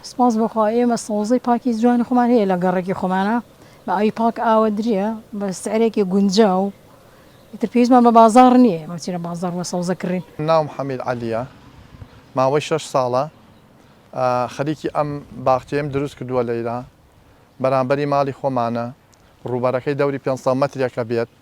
سپاس بۆ خوا ئێمە سەوزەی پاکی جوانی خۆمان هەیە لە گەڕەکی خۆمانا بە ئاوی پاک ئاوەدریە بە سعرێکی گونجاو ئیتر پێویستمان بە بازاڕ نیە ئێمە بچینە بازاڕ بۆ سەوزە کڕین. ناوم حەمید عەلیە ماوەی شەش ساڵە خەریکی ئەم باخچەیەم دروست کردوە لەیرا بەرامبەری ماڵی خۆمانە ڕووبەرەکەی دەوری پێنج سەد مەترێکە بێت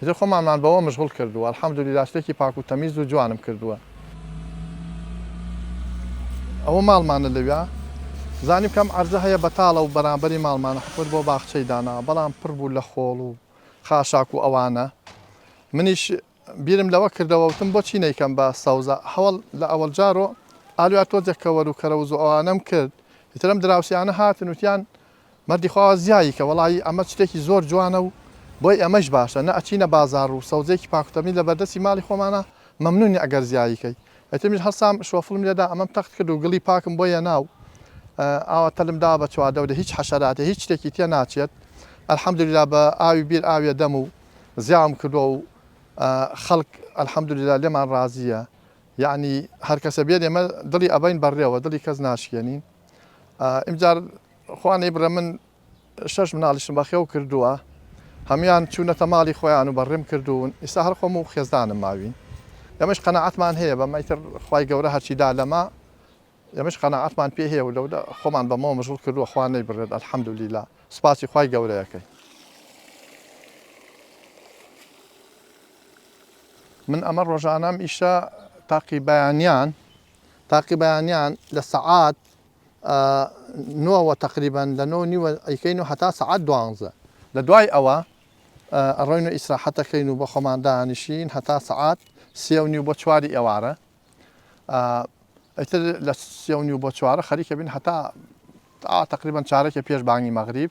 ئیتر خۆمانمان بەوە مشغوڵ کردووە الحمدللە شتێکی پاک و تەمیز و جوانم کردووە ئەوە ماڵمانە لەویا زانیم کەم عەرزە هەیە بەتاڵە و بەرامبەری ماڵمانە حکومت بۆ باخچەی داناوە بەڵام پڕ بوو لە خۆڵ و خاشاک و ئەوانە منیش بیرم لەوە کردەوە وتم بۆچی نەیکەم بە سەوزە هەوڵ لە ئەوەڵ جارۆ ئالویا تۆزێک کەوەر و کەرەوز و ئەوانەم کرد ئیترم دراوسیانە هاتن وتیان مەردی خواوە زیایی کە وەڵایی ئەمە چتێکی زۆر جوانە و بۆی ئێمەیش باشە نە ئەچینە بازاڕ و سەوزەیەکی پاک و تەمیز لە بەردەستی ماڵی خۆمانە مەمنونی ئەگەر زیایی کەی ئەیتر منیش هەڵسام شۆفڵم لێدا ئەمەم تەخت کرد و گڵی پاکم بۆ یەنا و ئاوا تەلم داوە بە چواردەورێ هیچ حەشەراتێ هیچ شتێکی تێ ناچێت الحمدللە بە ئاوی بیر ئاوێ دەم و زیاوم کردوە و خەڵک الحمدللە لێمان ڕازیە یەعنی هەرکەسە بێت ئێمە دڵی ئەبەین بە ڕێوە دڵی کەس ناشکێنین ئیمجار خوا نەیبڕێ من شەش مناڵیشم بەخێو کردووە هەموان چوونەتە ماڵی خۆیان و بەڕێم کردوون ئیستا هەر خۆم و خێزدانم ماوین ئەمەش قەنەعاتمان هەیە بە مەتر خی گەورە هەرچی دا لەما ئەمەش قەنەعاتمان پێ هەیە و لەو خۆمان بەمەوە مژڵ کردووە خوا نەی بڕێت ئەلحەمدولیلا سپاسی خی گەورەیەکەی من ئەمە ڕۆژانام ئیشە تاقی بەیانیان تاقی بەیانیان لە سەعات ە نۆ وە تەقریبەن لە نۆ و نیوە ئەیکەین و هەتا سەعات دوانزە لە دوای ئەوە ئەڕۆین و ئیسراحەت ئەکەین و بە خۆمان دانیشین هەتا سەعات سێ و نیو بۆ چواری ئێوارە ئیتر لە سێ و نیو بۆ چوارە خەریکە بین هەتا تەقریبەن چارەکێ پێش بانگی مەغریب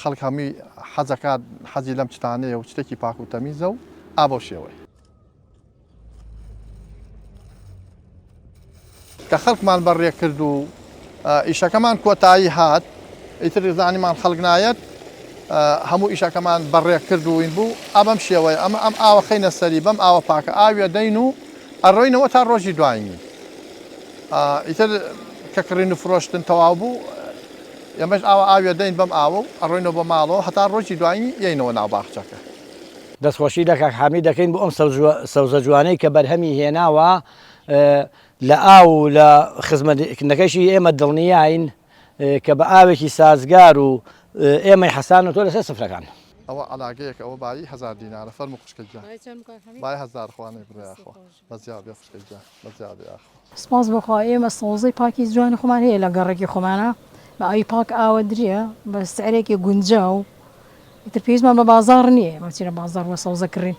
خەڵک هەمووی حەز ئەکات حەزی لەم شتانەیە و شتێکی پاک و تەمیزە و ئا بەو شێوەیە. کە خەڵکمان بەڕێ کرد و ئیشەکەمان کۆتایی هات ئیتر زانیمان خەڵک نایەت هەموو ئیشەکەمان بەڕێ کردوین بوو ئەمەم شێوەیە ئەمە ئەم ئاوە خینە سەری بەم ئاوە پاکە ئاوێ دەین و ئەڕۆینەوە تا ڕۆژی دوایین ئیتر کە کڕین و فرۆشتن تەواو بوو ئێمەش ئاوا ئاویە دەین بەم ئاوە و ئەڕۆینەوە بۆ ماڵەوە هەتا ڕۆژی دوایین یەینەوە ناو باخچەکە. دەستخۆشی لە کاک حامید دەکەین بۆ ئەم سەوزە جوانەی کە بەرهەمی هێناوە لە ئاو و لە خزمەتکردنەکەیشی ئێمە دڵنیاین کە بە ئاوێکی سازگار و ئێمەی حەسانەوە لەسەر سفرەکان. ئەوە عەلاگەیەکە ئەوە بایی هەزار دینارە فەرموو خوشکە گیان بای هەزار خوا نەیبڕێ یاخوا. بە جا بێ خوشکە گیان بە جا بێ ئاخۆ. سپاس بۆ خوا ئێمە سەوزەی پاکی جوانی خۆمان هەیە لە گەڕەکی خۆمانا بە ئاوی پاک ئاوەدریە بە سعرێکی گونجاو ئیتر پێویستمان بە بازاڕ نییە ئێمە چینە بازاڕ بۆ سەوزە کڕین.